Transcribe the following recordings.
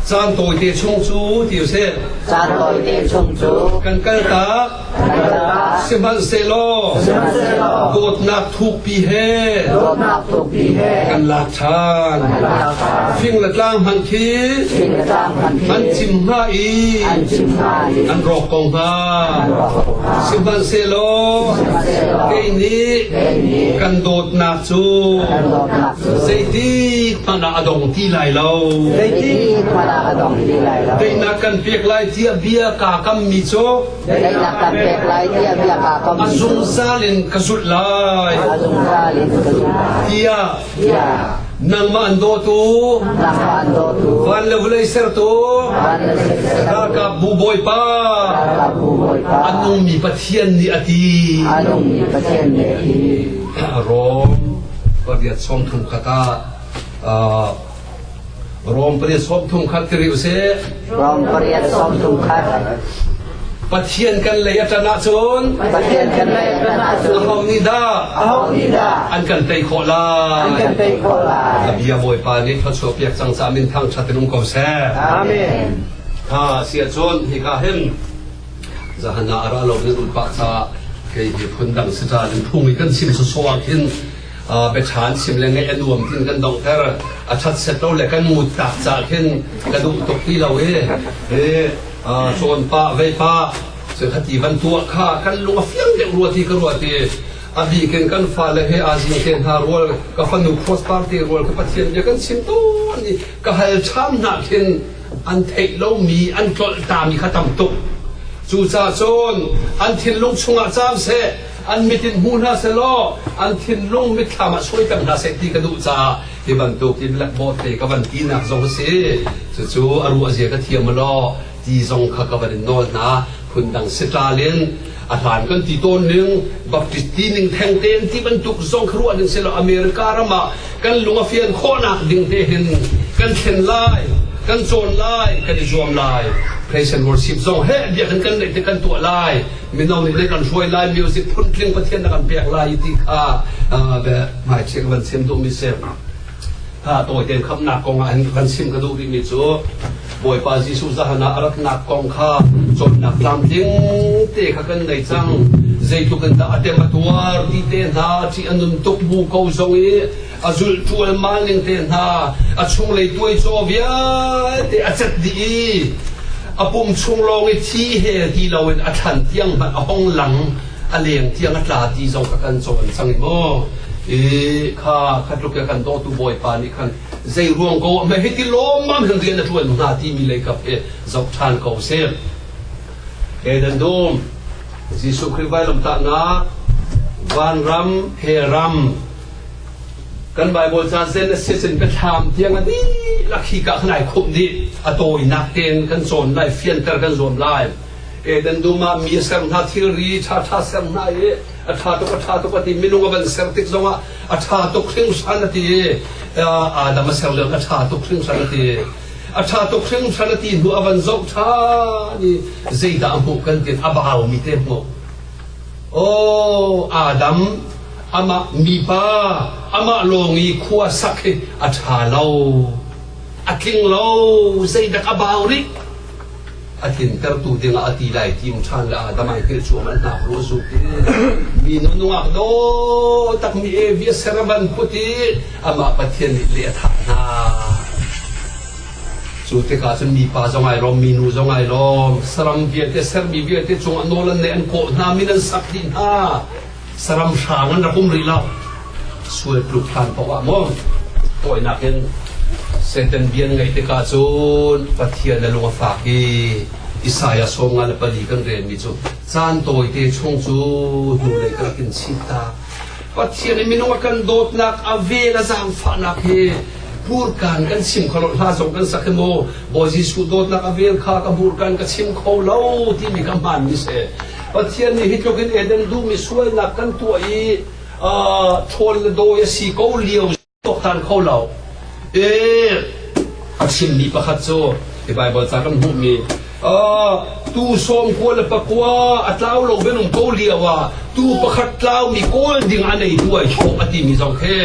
Caan tawite chung cu ti usih. Caan tawite chung cu kan kal tak. Kan kal tak. Sihmanhsehlaw. Sihmanhsehlaw. Dawtnak thukpi he. Dawtnak thukpi he. Kan lak than. Kan lak than. Fing le tlang hmanh khi. Fing le tlang hmanh khi. An cim hna i. An cim hna i. An rawk ko hna. An rawk ko hna. Sihmanhsehlaw. Sihmanhsehlaw. Kei nih. Kei nih. Kan dawtnak cu zeitik hmanh ah a dong ti lai lo zeitik hmanh ah a dong ti lai lo daihnak kan pek lai tiah bia kaa kam mi cu daihnak kan pek lai tiah bia kaa kam mi a zungzal in ka zulh lai a zungzal in ka zulh tiah nangmah an dawtu nangmah an dawtu van le vulei sertu ralkap bu bawipa ralkap bu bawipa a nungmi pathian nih a ti a nungmi pathian nih a ti Rom pariat sawm thum khat ah Rom pariat sawm thum khat kiri usih. Rom pariat sawm thum khat. Pathian kan lei a tan ahcun Pathian kan lei a tan ahcun Aho nih dah Aho nih dah an kan tei khawh lai An kan tei khawh lai A bia Bawipa nih thluachuah piak cang ca min thangthat in um ko seh Amen. Ha si ahcun hika hin Zahan ah a ra lo nan ulh pah caah kei hi phundang si caah nunphung i kan chim sawsawh ah khin biaṭha an chim le ngeih a nuam tiin kan donghter. A ṭhatset lo le kan ngut tak caah khin ka duh tuk ti lo i cawn pah vei pah cu khati van tuah kha kan lung a fiang deuh rua ti ka ruat i a bik in kan fale he aa zing te hna rual ka fanu cross party rual ka pathian bia kan chim tawn i ka hal ṭham hna khin an theih lomi an tlolhtami kha tam tuk cucaah cun an thinlung chungah cam seh an mit in hmu hna seh law an thinlung mitthlam ah suai peng hna seh ti ka duh caah hi bantukin lakbawt te ka van tinak zong a si cucu a ruah zia ka thiam law ti zong kha ka van in nawl hna phundang sitral in a hlan kan ti tawn ning baptist ti ning theng tein ti bantuk zong kha ruah ning si lo america ram ah kan lung a fian khawhnak ding te hin kan thlen lai kan cawn lai kan i zuam lai praise and worship zong he bia kan kan neih te kan tuah lai mino nih ne kan hruai lai music phuntling pathian na kan pek lai ti kha be mai check van sem tu mi se ha to ten kham na kong an kan sim ka du mi cu Bawipa Jesuh zahan ah a ratnak kong kha cawnnak tlamtling te kha kan nei cang. Zeitluk in dah a tem a tuar ti te hna, ṭih a num tuk bu ko zong i a zulh ṭualmal ning te hna, a chunglei tuai caw vialte a cat dih i a pum chung lawng i thi he ti loin a thlan tiang hmanh a hong lang, a leng tiang a tla ti zong kha kan cawn cang i maw. I kha, kha tluk i kan dawtu Bawipa nih khan zei ruang ko ahme hiti lawmmam hin rian a ṭuan hnga timi lei kap hi zoh ṭhan ko seh. Ke dan dum, Jesuh Khrih vailamtahnak, vanram he ram, kan Bible ca zen a sisin pethlaam tiang a di lakhi ka khnai khum di a tawinak ten kan cawn lai fianter kan zuam lai edan duma mi ser hna thilri tha tha ser hna i a tha tuk a tha tuk a ti minung a van ser tik zongah a ṭha tuk hringhran a ti i Adam a ser lioin a ṭha tuk hringhran a ti a ṭha tuk hringhran a ti hnu a van zoh ṭhan i zeidah a hmuh kan ti a baumi te hmuh aw Adam amah mipa amah lawng i khua sak hi a ṭha lo a tling lo zeidak a bau rih a tlintertu dingah a ti lai tim ṭhan le Adam ai hngilh cu aman hnak ru zu ti mi nu nungak do takmi evi a serban put i amah Pathian nih le a thah hna cu tikah cun mipa zong ai lawm mi nu zong ai lawm saram vialte sermi vialte cung a nawl an neih an kawh hna min an sak dih hna saram hrang an rak um rih lo sual pluk hlan poah maw tawinak in Satan bian ngai tika cun Pathian a lung a fak i Isaiah sawm nga le pali kan ren mi cu caan tawi te chung cu hnu lei kan kin si ta Pathian i minung a kan dawtnak a vel a zaangfahnak hi burkan kan sim kholo hla zong kan sak maw Bawi Jesuh dawtnak a vel kha ka burkan ka sim kho lo ti mi ka hman mi se Pathian nih hi tluk in Eden duhmi sualnak kan tuah i ṭhawn le dawi a si ko lio tuaktan kho lo. E, a chimmi pakhat cu hi Bible ca kan hmuhmi tu sawm kua le pakua a tlau lo benung ko lio ah tu pakhat tlaumi kawl ding a nei duai thaw a timi zong khi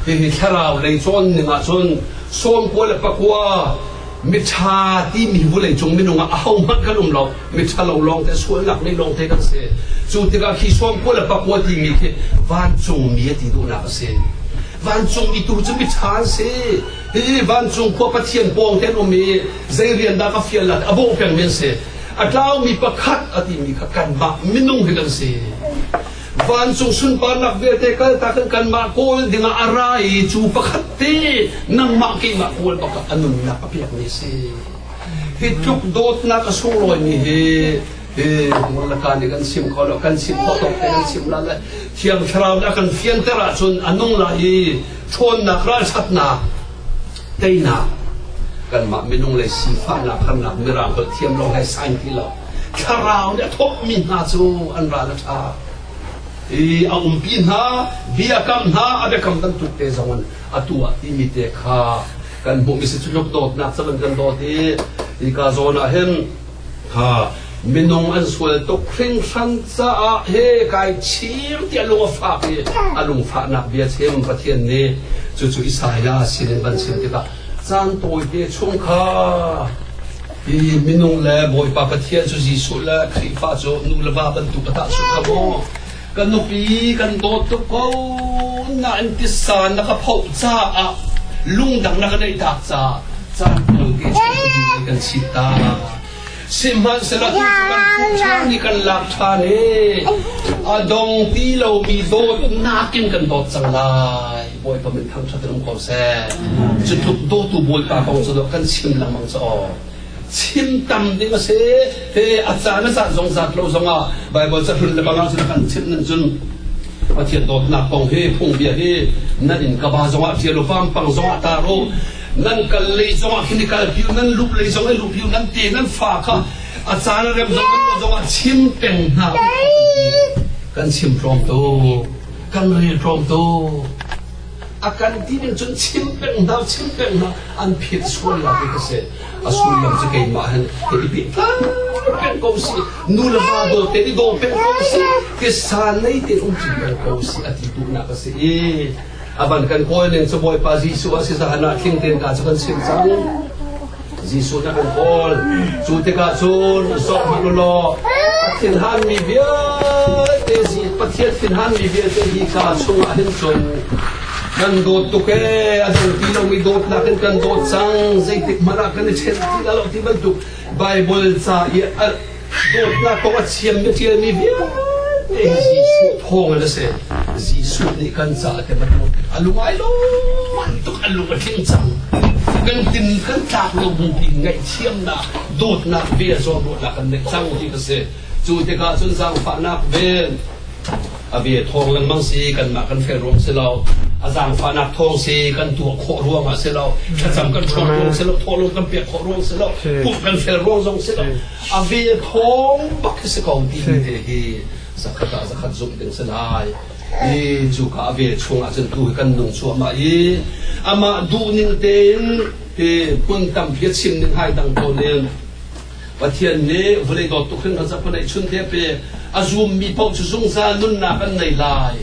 hihi thlarau lei cawn ning ahcun sawm kua le pakua miṭha timi vulei cung minung ah ahohmanh kan um lo miṭhalo lawngte sualnak nei lawngte kan si cu tikah khi suamkhua le pakua timi khi vancungmi a ti duhnak a si vancungmi tu cu miṭha an si hihi vancung khua pathian pawng te an um i zei rian dah ka fial la a bawh pengmi an si a tlaumi pakhat a timi kha kanmah minung hi kan si vancung sunparnak vialte kaltak in kanmah kawl dingah a ra i cu pakhat te nangmah keimah kawl pakhat a nunnak a pekmi si Hi tluk dawtnak a sunglawimi hi Ngulnatan i kan sim kho lo, kan sim khawh tuk te kan sim la le Thiang Thlarau nih a kan fianter ahcun a nung la i ṭhawnnak ralṭhatnak teinak kanmah minung le sifahnak harnak mirang holh thiam lo he sain ti lo thlarau nih a thawkmi hna cu an ral a ṭha i a umpi hna bia kam hna a biakam bantuk te zong in a tuah timi te kha kan hmuh mi si cu tluk dawtnak cang in kan dawt i hika zawn ah hin ha minung an sual tuk hringhran caah he kai chim ti a lung a fak i a lungfahnak bia chim pathian nih cucu Isaiah sinin van chim tikah caan tawite chung kha i minung le bawipa pathian cu Jesuh le Khrihfa cu nu le va bantuk a tah su kha maw ka nupi kan dawt tuk ko nain tisa na ka phoh caah lungdang na ka neih tak caah caan kul ke kan si ta sihmanhsehla tu kan puh ṭhan i kan lak ṭhan i a dong ti lomi dawtnak in kan dawt cang lai bawipa min thangṭhat in um ko seh cu tluk dawtu bawipa kong cu kan chim lengmang cu aw chim tam ding a si te a caan a caan zong zat lo zongah Bible cahlun le balang sin kan chimh ning cun Pathian dawtnak kong hi phungbia hi nan in ka ba zongah tia lo vampang zongah ta ro nan kal lei zongah hin i kal piu nan lup lei zongah i lup piu nan ti nan fa kha a caan a rem zong zongah chim peng hna kan chim tlawm tu kan rel tlawm tu A kan ti nih cun chim peng hna, chim peng hna, an phet sual nak hi ka si. A sullam cu keimah hen ka i pet peng ko si, nu le va dawt te i daw peng ko si, ke sa nei te um cin peng ko si, a ti tu nak ka si i. A ban kan kawl ning cu Bawipa Jesuh a si zahan ah tling ten ka cu kan chim cang. Jesuh nih a kan kawl. Cu tikah cun sok hmanh law a thinhanmi vialte Pathian thinhanmi vialte hi ka chungah hin cun kan dawt tuk ee a dang ti lomi dawtnak in kan dawt cang zeitik hmanh ah kan i chen ti lo ti bantuk Bible ca i Dawtnak kong a thiam na ṭialmi vialte hi Jesuh thawngin a si. Jesuh nih kan caah te bantuk a lungai lawmman tuk a lung a tling cang. Kan tin kan tlak lo bupi ngaihthiamnak dawtnak ve zuam ruahnak kan neih cang ti ka si. Cu tikah cun zaangfahnak ven a ve thawng lengmang si kanmah kan fel ruang si lo a zaangfahnak thawng si kan tuah khawh ruang ah si lo thlacam kan chuak ruang si lo thawhlung kan pek khawh ruang si lo pumh kan fel ruang zong si lo a ve thawng bak hi si ko ti te hi zakhat ah zakhat zumh ding si lai i cu ka a ve chung ahcun tu kan nung chuahmah i amah duhning tein te hmun tampi chim ning hai dang to nin Pathian nih vawlei dawt tuk hin a zaphun ei chun te a pe. A zummi paoh cu zungzal nunnak an nei lai.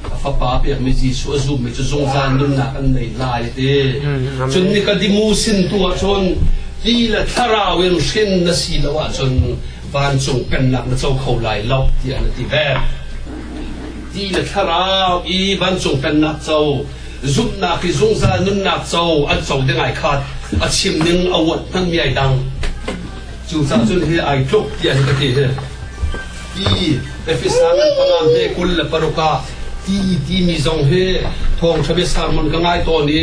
A fapa pekmi Jesuh a zummi cu zungzal nunnak an nei lai a ti. Cun Nikadimu sin tu ahcun ti le thlarau in hrin na si lo ahcun vancung pennak na co kho lai lo tiah na ti ve. Ti le thlarau i vancung pennak co zumhnak i zungzal nunnak co an co ding ai khat a chim ning a uat hmanmi ai dang cu cah cun hi ai tluk ti an ka ti hi ti efisang an pangam hi kul le paruka ti timi zong hi thawngtha bia sermon ka ngai tawn i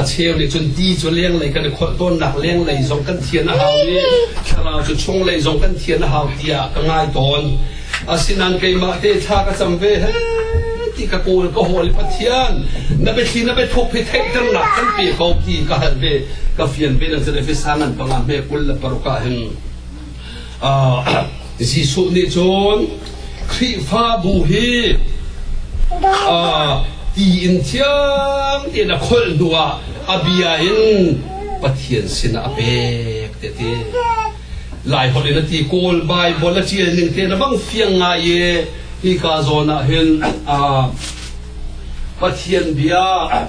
a cheu nih cun ti cu lenglei kan i kholh tawnnak lenglei zong kan thian a hau i thlarau cu chung lei zong kan thian a hau tiah ka ngai tawn Asinain keimah te thla ka cam ve he ti ka kawl ka hawl i Pathian na biathli na biathuk hi theihternak kan pe ko ti ka hal ve ka fian ve nang cun Efesa ngan panga me kul le paruka hin Jesuh nih cun Khrihfabu hi ti in thiang in a kholh hnuah a bia in Pathian sinah a pek te ti. Laiholh in a ti kawl Bible a ṭial ning te na bang fiang ngai i hika zawn ah hin Pathian bia